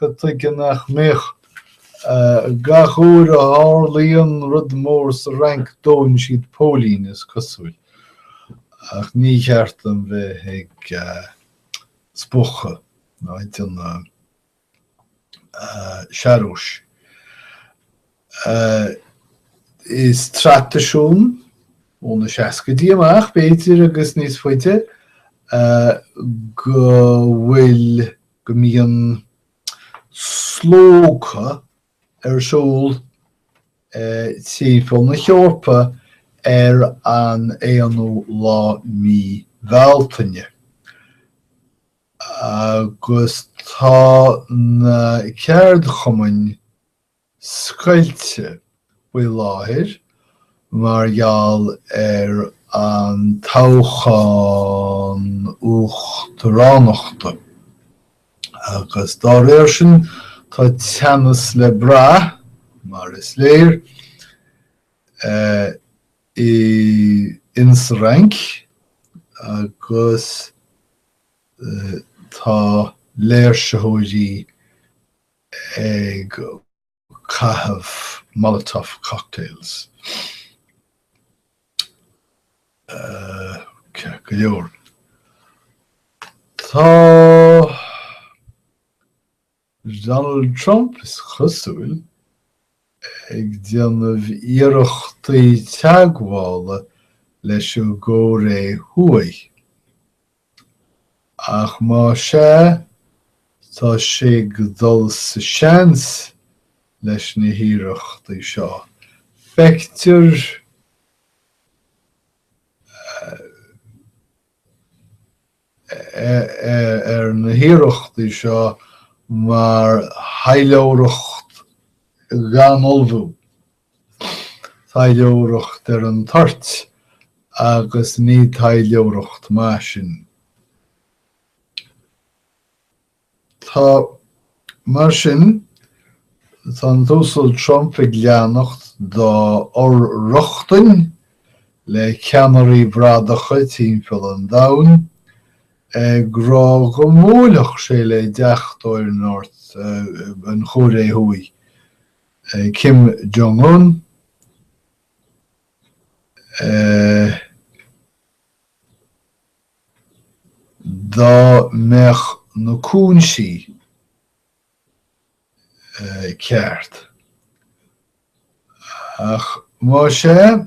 Cad tuige nach mbeadh? Gach uair a tharlaíonn rud mór sa Fhrainc dóann siad póilín, is cosúil. Ach ní cheart dom bheith ag spochadh ná ag déanamh searbhais. Is traidisiún ó na seascaidí amach, b'fhéidir, agus níos faide, go bhfuil go mbíonn slógadh ar siúl timpeall na hEorpa ar an 1ú lá mí Bhealtaine agus tá na ceardchumainn scoilte faoi láthair mar gheall ar an toghchán uachtaránachta agus dá réir sin tá teannas le brath, mar is léir, i insa Fhrainc agus tá léirsitheoirí ag caitheamh molotov cocktails go leor. Tá Donald Trump is cosúil ag déanamh iarrachtaí teagmhála leis an gCóiré Thuaidh. Ach más ea, tá sé ag dul sa seans leis na hiarrachtaí seo. Feictear ar na hiarrachtaí seo mar thaidhleoireacht gan ullmhú Taidhleoireacht ar an toirt agus ní taidhleoireacht maith sin. Tá, mar sin, tá an tUasal Trump ag leanacht dá fhor-rochtain le ceannairí bradacha timpeall an domhain, ag rá go mbuailfeadh sé le deachtóir North, an Chóiré Thuaidh Kim Jong-un, dá mbeadh na cúinsí ceart. Ach más ea.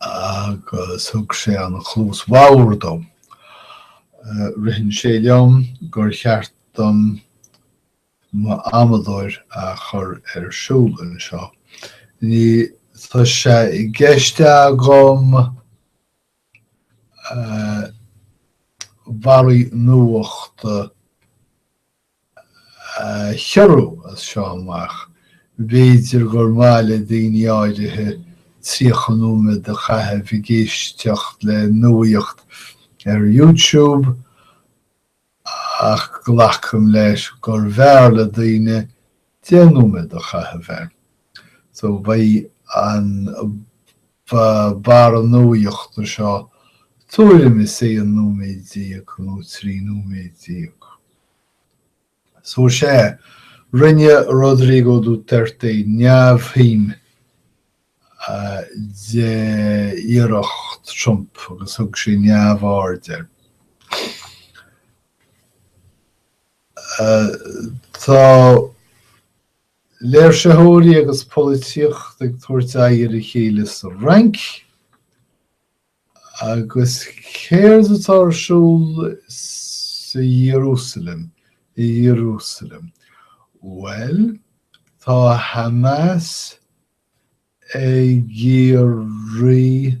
agus thug sé an chluas bhodhar dom. Ritheann sé liom gur cheart dom mo amadóir a chur ar siúl anseo. Níl sé i gceist agam barraí nuachta a chiorrú as seo amach. B'fhéidir gur mhaith le daoine áirithe 30 nóiméad a chaitheamh ag éisteacht le nuaíocht ar YouTube ach glacaim leis gurbh fhearr le daoine Deich nóiméad a chaitheamh air. So beidh an barra nuaíochta seo tuairim is aon nóiméad déag nó trí nóiméad déag. So sea, rinne Rodrigo Duterte neamhshuim d'iarracht Trump agus thug sé neamhaird air. Tá léirsitheoirí agus polaitíocht ag tabhairt aghaidh ar a chéile sa Fhrainc, agus céard atá ar siúl sa Iarúsailéim, i Iarúsailéim? Bhuel, tá Hamas ag iarraidh.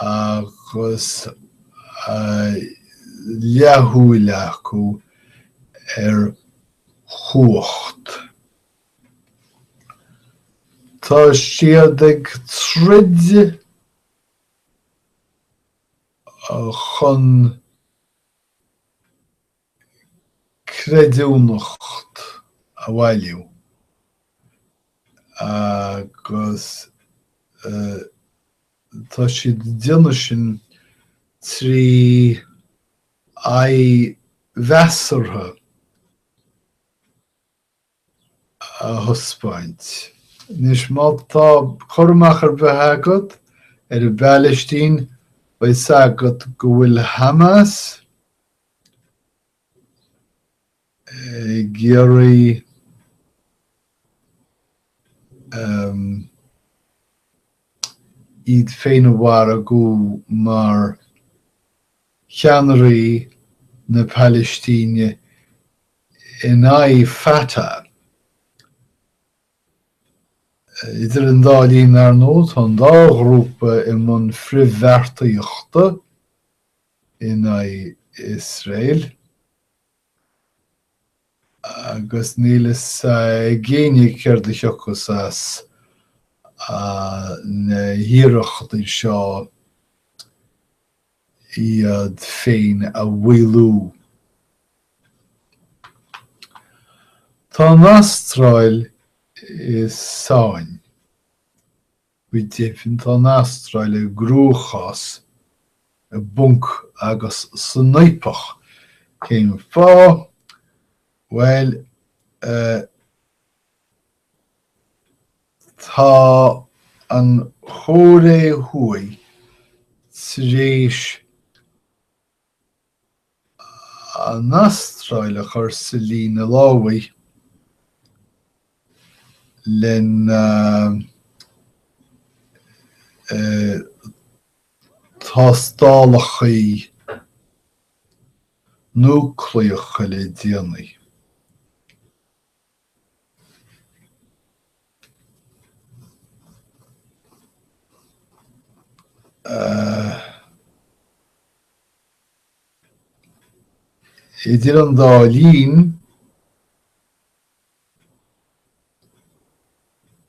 agus leathshúil acu ar chumhacht. Tá siad ag troid chun. creidiúnacht a bhailiú agus tá siad ag déanamh sin trí aghaidh mheasartha. a thaispeáint. Anois, má tá cur amach ar bith agat ar an bPailistín, beidh a fhios agat go bhfuil Hamas ag iarraidh iad féin a mhargú mar cheannairí na Pailistíne. in aghaidh Fatah. Idir an dá linn, ar ndóigh, tá an dá ghrúpa i mbun frithbheartaíochta in aghaidh Iosrael agus níl fhios ag éinne céard a thiocfas as na hiarrachtaí seo. iad féin a mhaolú. Tá an Astráil i sáinn. Go deimhin tá an Astráil i gcruachás, i bponc agus san fhaopach. Cén fáth? Bhuel. eh. Tá an Chóiré Thuaidh tar éis an Astráil a chur sa líne lámhaigh lena dtástálacha núicléacha le déanaí. Idir an dá linn,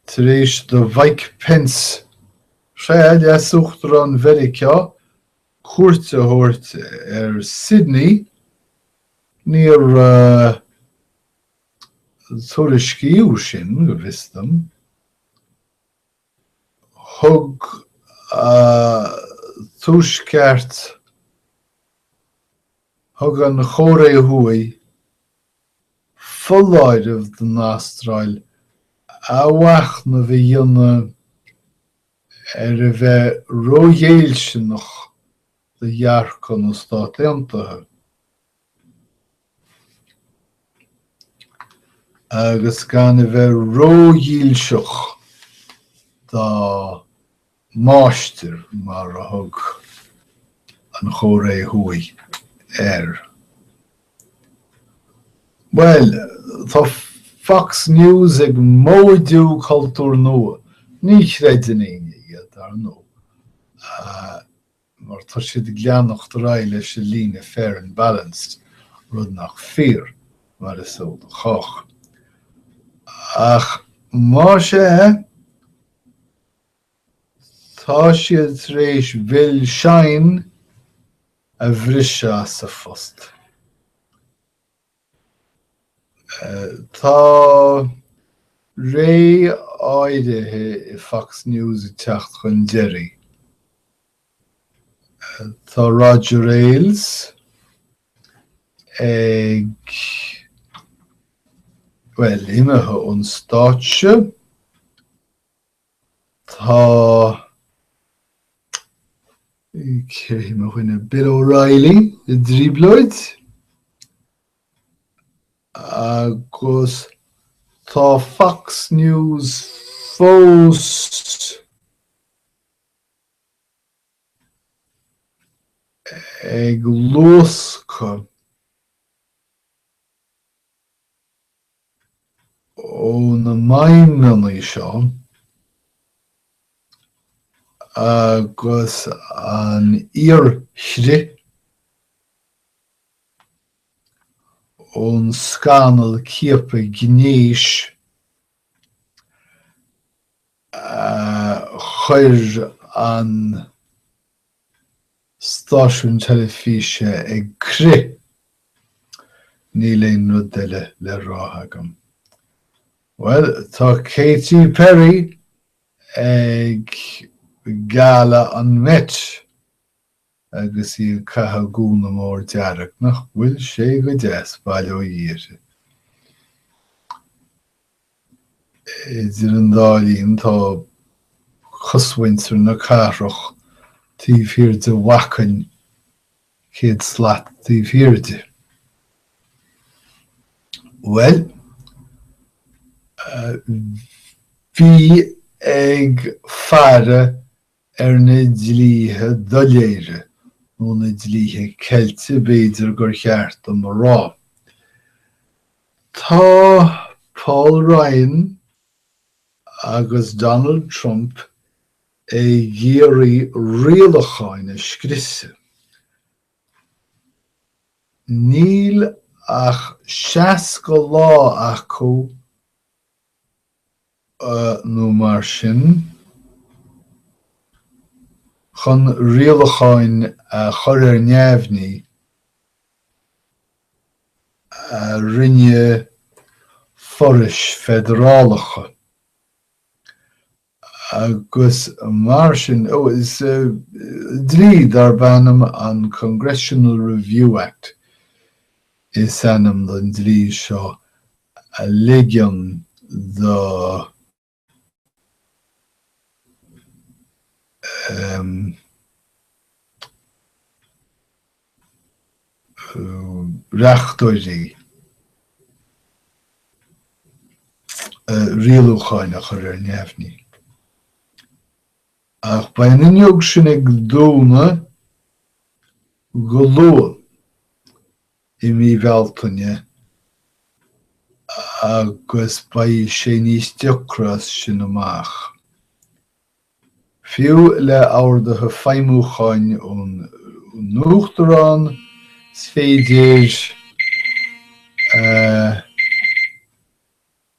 tar éis do Mhike Pence Leas-Uachtarán Mheiriceá cuairt a thabhairt ar Sydney, níor. tuairiscíodh sin, go bhfios dom. Thug Tuaisceart, thug an Chóiré Thuaidh foláireamh don Astráil athmhachnamh a dhéanamh ar a bheith róghéilliúnach do dhearcadh na Stát Aontaithe. agus gan a bheith ródhílseach dá máistir mar a thug an Chóiré Thuaidh air. Bhuel, tá Fox News ag móidiú cultúr nua, ní chreideann éinne iad, ar ndóigh, mar tá siad ag leanacht ar aghaidh leis an líne fair and balanced, rud nach fíor, mar is eol do chách. Ach más ea, tá siad tar éis Bill Shine a bhriseadh as a phost. Tá ré áirithe i Fox News ag teacht chun deiridh. Tá Roger Ailes ag, bhuel, imithe ón stáitse. Tá cé hé mo dhuine? Bill O'Reilly i dtrioblóid agus tá Fox News fós ag luascadh. Ó na maidhmeanna seo agus an fhíor-chrith ón scannal ciapadh gnéis a chuir an. stáisiún teilifíse ag crith! Níl aon rud eile le rá agam. Bhuel, tá Katy Perry ag Gala an Met agus í ag caitheamh gúna mór dearg. Nach bhfuil sé go deas, bail ó Dhia uirthi! Idir an dá linn, tá cosmhuintir na cathrach taobh thiar de bhacainn, céad slat taobh thiar de. Bhuel, bí ag faire Ar na dlíthe doiléire, nó na dlíthe ceilte b'fhéidir gur cheart dom a rá, tá Paul Ryan agus Donald Trump ag iarraidh rialacháin a scriosadh. Níl ach 60 lá acu nó mar sin. Chun rialacháin a chur ar neamhní a rinne forais feidearálacha agus mar sin, ó, is dlí darb ainm an Congressional Review Act is ainm don dlí seo a ligeann do reachtóirí rialúcháin a chur ar neamhní. Ach beidh an fhuinneog sin ag dúnadh go luath i mí Bealtaine agus beidh sé níos deacra as sin amach. Fiú le horduithe feidhmiúcháin ón nUachtarán, is féidir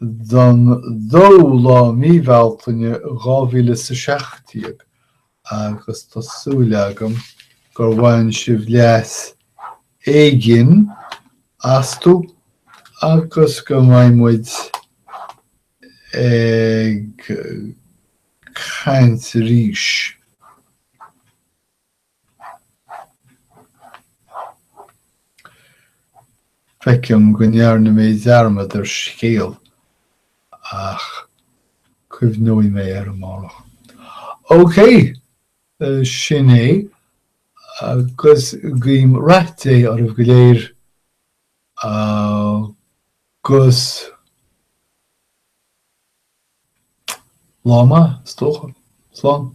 don 2ú lá mí Bealtaine 2017 agus tá súil agam gur bhain sibh leas éigin astu agus go mbeidh muid ag caint arís. Feicim go ndearna mé dearmad ar scéal ach cuimhneoidh mé air amárach. OK! Sin é agus guím Rath Dé oraibh go léir agus Lá maith, is dócha. Slán.